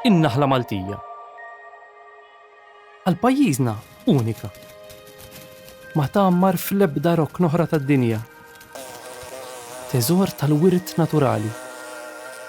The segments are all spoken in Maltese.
in-naħla Maltija. Għal pajjiżna unika. Ma tgħammar fl-ebda rok noħra tad-dinja. Teżor tal-wirt naturali.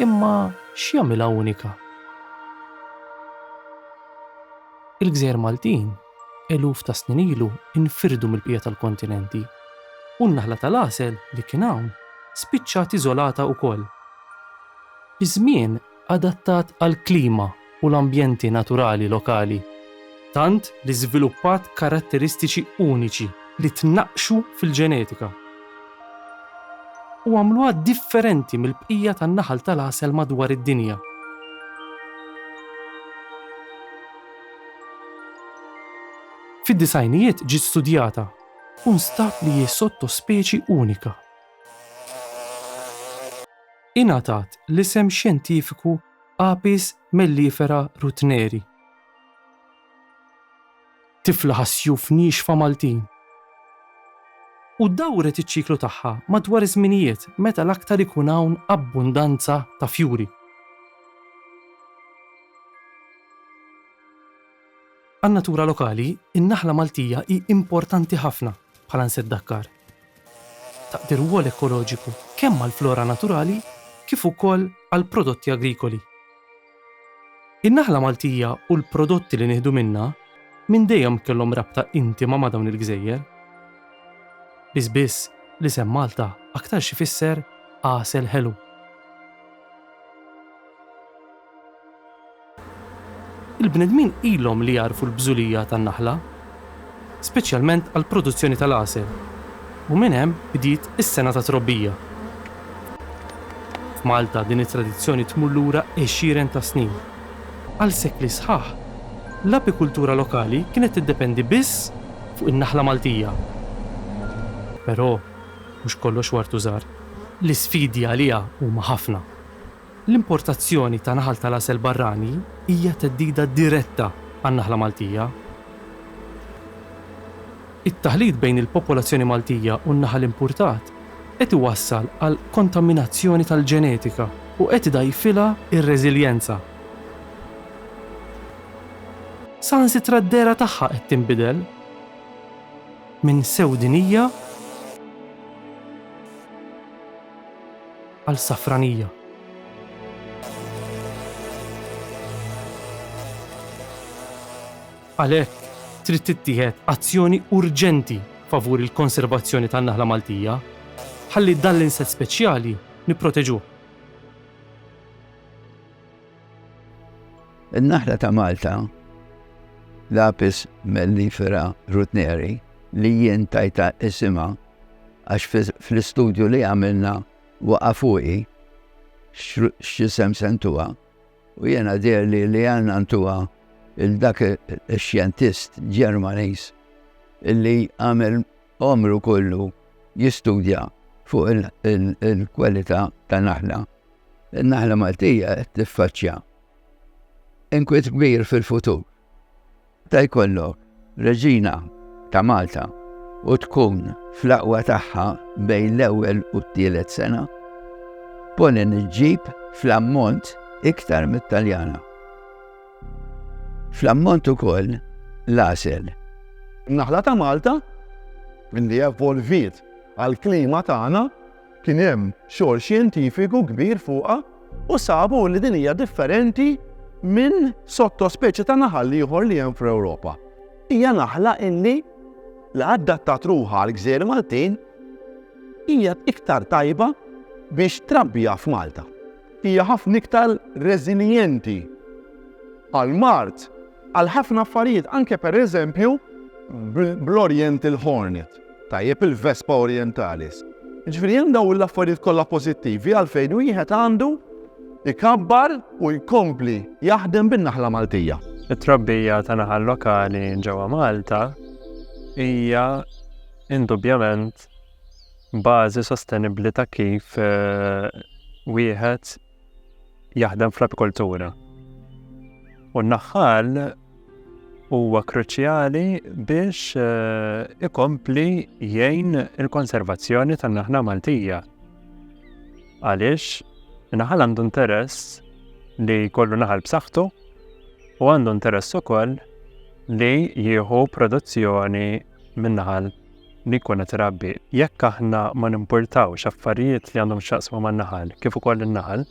Imma x'jagħmilha unika? Il-gżejjer Maltin eluf ta' snin ilu infirdu mill-bqija tal-kontinenti, u n-naħla tal-għasel li kien hawn spiċċat iżolata wkoll. Iż-żmien adattat għall-klima u l-ambjenti naturali lokali, tant li żviluppat karatteristiċi uniċi li tnaqqxu fil-ġenetika u għamluha differenti mill-bqija tan-naħal tal-għasel madwar id-dinja. Fid-disgħinijiet ġiet studjata u nstab li hi sottospeċi unika. Ingħatat l-isem xjentifiku Apis mellifera rutneri. Tifla ħas-sjuf niexfa Maltin u dawret iċ-ċiklu tagħha madwar iż-żminijiet meta l-aktar ikun hawn abbundanza ta' fjuri. Għan-natura lokali, in-naħla Maltija hi importanti ħafna bħala nsett dakkar. Taqdi rwol ekoloġiku kemm għall-flora naturali kif ukoll għall-prodotti agrikoli. In-naħla Maltija u l-prodotti li nieħdu minnha minn dejjem kellhom rabta intima ma' dawn il-gżejjer. Biss biss, l-isem Malta aktarx ifisser għasel ħelu. Il-bnedmin ilhom li jagħrfu l-bżulija tan-naħla, speċjalment għall-produzzjoni tal-għasel, u minn hemm bdiet is-sena tat-trobbija. F'Malta din it-tradizzjoni tmur lura għexieren ta' snin. Għal sekli sħaħ, l-apikultura lokali kienet tiddependi biss fuq in-naħla Maltija. Però, mhux kollox wartu żahar. L-isfidi għaliha huma ħafna. L-importazzjoni ta' naħal tal-għasel barrani hija theddida diretta għan-naħla Maltija. It-taħlit bejn il-popolazzjoni Maltija u n-naħal impurtat qed iwassal għal kontaminazzjoni tal-ġenetika u qed idgħajjfilha r-reżiljenza. Saħansitra d-dehra tagħha qed tinbidel minn sewdinija. għal Safranija. Għalhekk trid tittieħed azzjoni urġenti favur il-konservazzjoni tan-naħla Maltija ħalli dan l-insett speċjali nipproteġuh. In-naħla ta' Malta, Lapis mellifera rutneri, li jien tajta isima għax fl-istudju li għamilna waqa' fuqi x'isem se ntuha u jiena deherli li għandna ntuha il dak ix-xjentist Ġermaniż illi għamel għomru kollu jistudja fuq il-kwalità ta' naħla. In-naħla Maltija qed tiffaċċja inkwiet kbir fil-futur. Meta jkollok Reġina ta' Malta u tkun fl-aqwa tagħha bejn l-ewwel u t-tielet sena, Pollen iġġib fl-ammont iktar mit-Taljana. Fl-ammont ukoll l-għasel. In-naħla ta' Malta, li evolviet għall-klima tagħna, Kien hemm xogħol xjentifiku kbir fuqha u sabu li din hija differenti minn sottospeċi ta' naħal ieħor li hemm fl-Ewropa. Hija naħla illi li addattat ruħha għall-gżejjer Maltin hija iktar tajba biex trabbiha f'Malta. Hija ħafna iktar reżiljenti għall-mard għal ħafna affarijiet, anke pereżempju bl-Oriental Hornet, tajjeb il-Vespa Orientalis. Ġifieri hemm dawn l-affarijiet kollha pożittivi għalfejn wieħed għandu ikabbar u jkompli jaħdem bin-naħla Maltija. It-trabbija ta' naħal lokali ġewwa Malta hija indubjament bażi sostenibbli ta' kif eh, wieħed jaħdem fl-apikoltura. U n-naħħal huwa kruċjali biex eh, ikompli jgħin il-konservazzjoni tan-naħla Maltija. Għaliex naħal għandu interess li kollu naħal b'saħħtu u għandu interess ukoll li jieħu produzzjoni Min-naħa li jkun qed irabbi, jekk aħna ma nimpurtawx affarijiet li għandhom x'jaqsmu man-naħal kif ukoll in-naħal,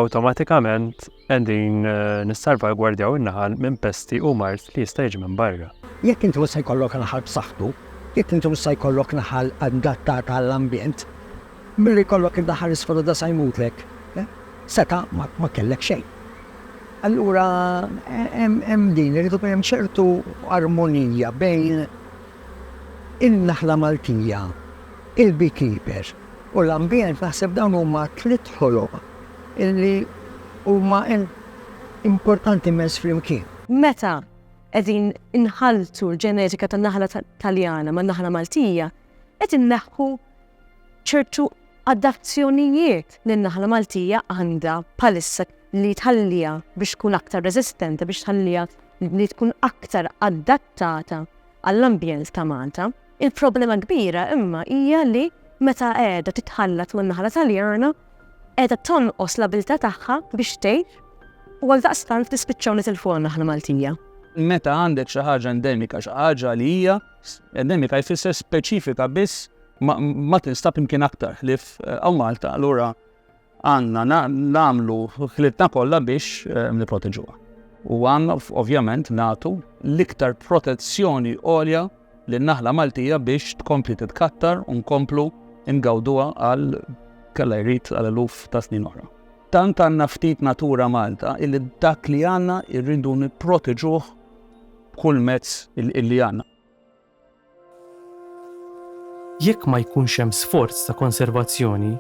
awtomatikament qegħdin eh, nissalvagwardjaw in-naħal minn pesti u mart li jista' jiġi minn barra. Jekk inti issa jkollok naħal b'saħħtu, jekk inti issa jkollok naħal adattata għall-ambjent, Milli jkollok id-daħħal isfruda sa jmutlek, seta' ma kellek xejn. Allura hemm din, irid ikun hemm ċertu armonija bejn in-naħla Maltija, il-beekeeper u l-ambjent, naħseb dawn huma tliet ħoloq illi huma importanti immens flimkien. Meta qegħdin inħalltu l-ġenetika tan-naħla Taljana man-naħla Maltija, qed inneħħu ċertu adazzjonijiet li n-naħla Maltija għandha bħalissa li tħalliha biex tkun aktar resistenti, biex tħalliha li tkun aktar adattata għall-ambjent ta' Malta. Il-problema kbira imma hija li meta qiegħda titħallat man naħla Taljana, qiegħda tonqos l-abilità tagħha biex tgħid u għal daqstant tispiċċaw nitilfu naħla Maltija. Meta għandek xi ħaġa endemika, xi ħaġa li hija endemika jfisser speċifika biss Ma tinstab imkien aktar ħlif għaw Malta, allura għanna namlu ħlitna kollha biex eh, niproteġuha. U għanna ovvjament natu l-iktar protezzjoni għolja li naħla Maltija biex tkompli titkattar u nkomplu ingawduha għal kalla jrid għal eluf ta' snin oħra. Tant għanna ftit natura Malta illi dak li għanna irridu niproteġuh kull mezz illi għanna. Jekk ma jkunx hemm sforz ta' konservazzjoni,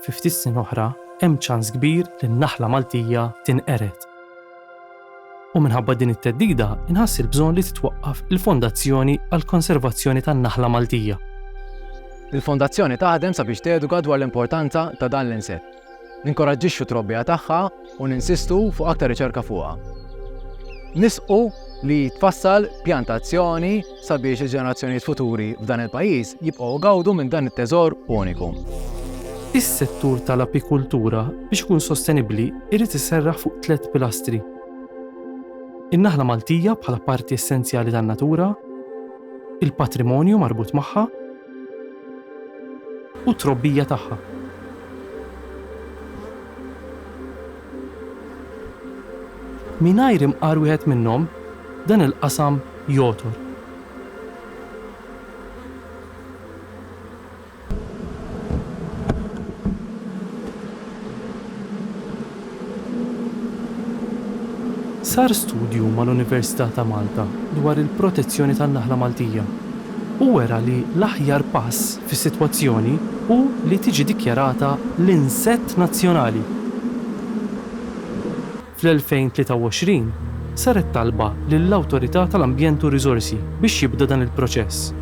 fi ftit snin oħra hemm ċans kbir li n-naħla Maltija tinqered. U minħabba din it-theddida nħass il-bżonn li titwaqqaf il-Fondazzjoni għall-Konservazzjoni tan-Naħla Maltija. Il-Fondazzjoni taħdem sabiex teduka dwar l-importanza ta' dan l-insett. Ninkoraġġixxu t-trobbija tagħha u ninsistu fuq aktar riċerka fuqha. Nisqu li jitfassal pjan ta' azzjoni sabiex il-ġenerazzjonijiet futuri f'dan il-pajjiż jibqgħu igawdu minn dan it-teżor uniku. Is-settur tal-apikultura biex ikun sostenibbli jrid iserraħ fuq tliet pilastri, in-naħla Maltija bħala parti essenzjali tan-natura, il-patrimonju marbut magħha, u t-trobbija tagħha. Mingħajr imqar wieħed minnhom, dan il-qasam jogħtor. Sar studju mal-Università ta' Malta dwar il-protezzjoni tan-naħla Maltija u wera li l-aħjar pass fis-sitwazzjoni hu li tiġi dikjarata l-insett nazzjonali. Fl-2023 saret talba lill-Awtorità tal-Ambjent u r-Riżorsi biex jibda dan il-proċess.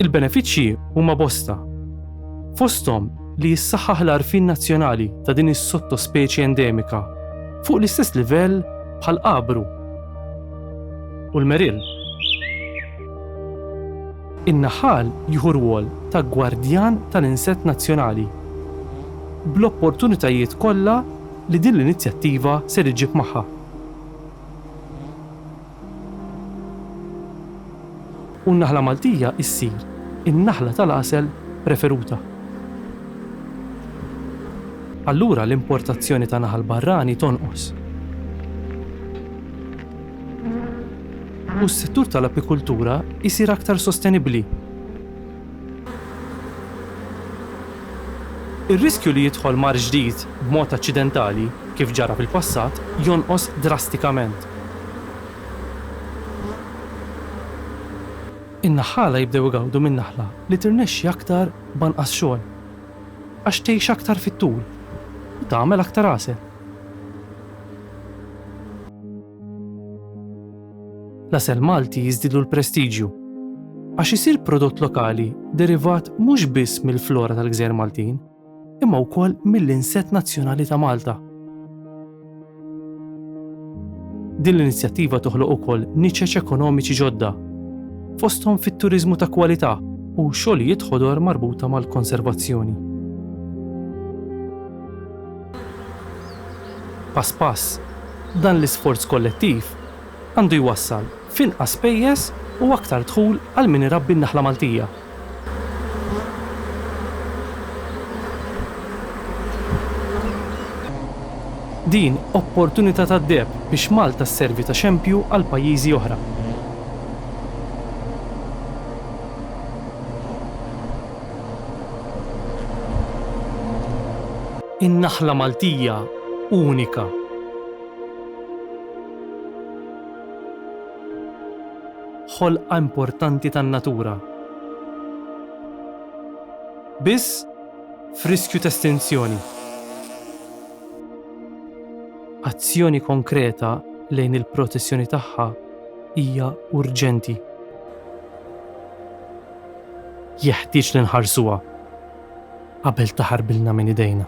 Il-benefiċċji huma bosta. Fosthom li jissaħħaħ l-għarfien nazzjonali ta' din is-sottospeċi endemika fuq l-istess livell bħal qabru u l-meril. In-naħal jieħu rwol ta' gwardjan tal-insett nazzjonali bl-opportunitajiet kollha li din l-inizjattiva ser iġġib magħha. U n-naħla Maltija issir in-naħla tal-għasel preferuta. Allura l-importazzjoni ta' naħal barrani tonqos. U s-settur tal-apikultura jsir aktar sostenibbli. Ir-riskju li jidħol mard ġdid b'mod aċċidentali, kif ġara fil-passat, jonqos drastikament. In-naħħala jibdew igawdu minn naħla li tirnexxi aktar b'anqas xogħol, għax tgħix aktar fit-tul u tagħmel aktar għasel. L-għasel Malti jiżdilu l-prestiġju għax isir prodott lokali derivat mhux biss mill-flora tal-Gżejjer Maltin, imma wkoll mill-insett nazzjonali ta' Malta. Din l-inizjattiva toħloq ukoll niċeċ ekonomiċi ġodda, fosthom fit-turiżmu ta' kwalità u xogħlijiet ħodor marbuta mal-konservazzjoni. Pass pass, Dan l-isforz kollettiv għandu jwassal f'inqas spejjeż u aktar dħul għal min irabbi n-naħla Maltija. Din opportunità tad-deheb biex Malta sservi ta' xempju għal pajjiżi oħra. In-naħla Maltija unika. Ħolqa importanti tan-natura. Biss f'riskju t'estinzjoni. Azzjoni konkreta lejn il-protezzjoni tagħha hija urġenti. Jeħtieġ li nħarsuha. qabel taħarbilna minn idejna.